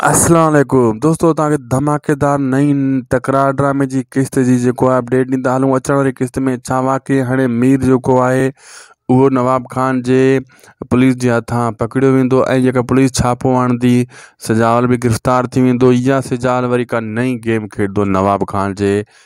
السلام عليڪم دوستو تان کي ڌماڪيدار نئين تڪرار ڊرامي جي قسط جي جيڪو آهي اپڊيٽ ڏيندا هلون اچڻ واري قسط ۾ ڇا واقعي هاڻي مير جيڪو آهي اهو نواب خان جي پوليس جي هٿان پڪڙيو ويندو ۽ جيڪا پوليس ڇاپو آڻندي سجاول به گرفتار ٿي ويندو يا سجاول وري ڪا نئين گيم کيڏندو نواب خان جي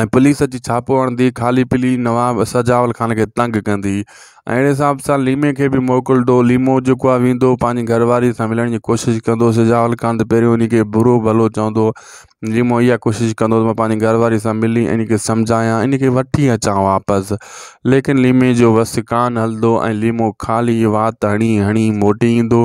۽ پوليس اچي ڇاپو هڻندي خالي پلي نواب سجاول خان کي تنگ ڪندي ۽ اهڙي حساب سان ليمي کي به موڪلندو ليمو جيڪو آهي ويندو پنهنجي گهر واري سان ملڻ جي ڪوشش ڪندو سجاول خان ته پهريون ان کي برو ڀلو چوندو ليمو اها ڪوشش ڪندو ته پنهنجي گهر واري سان ملي ان کي سمجهايان ان کي وٺي اچان واپس ليڪن ليمي جو وس ڪانه هلندو ۽ ليمو خالي وات هڻي هڻي موٽي ايندو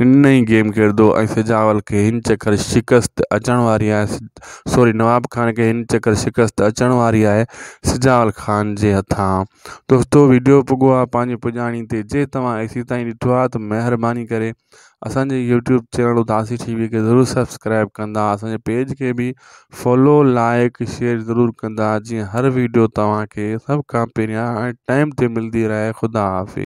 هن نئين گيم ڪردو ۽ سجاول کي هن چڪر شڪست اچڻ واري آهي سوري نواب خان کي هن چڪر شڪست اچڻ واري آهي سجاول خان جي هٿان دوستو ويڊيو پڳو آهي پنهنجي پڄاڻي تي جي توهان ايسي تائين ڏٺو آهي ته مهرباني ڪري اسان جي يوٽيوب چينل اداسي ٽي وي کي ضرور سبسڪرائب ڪندا اسان جي پيج کي به فالو لائڪ شيئر ضرور ڪندا جيئن هر ويڊيو توهان کي سڀ کان پهريان ۽ ٽائم تي ملندي رهي خدا حافظ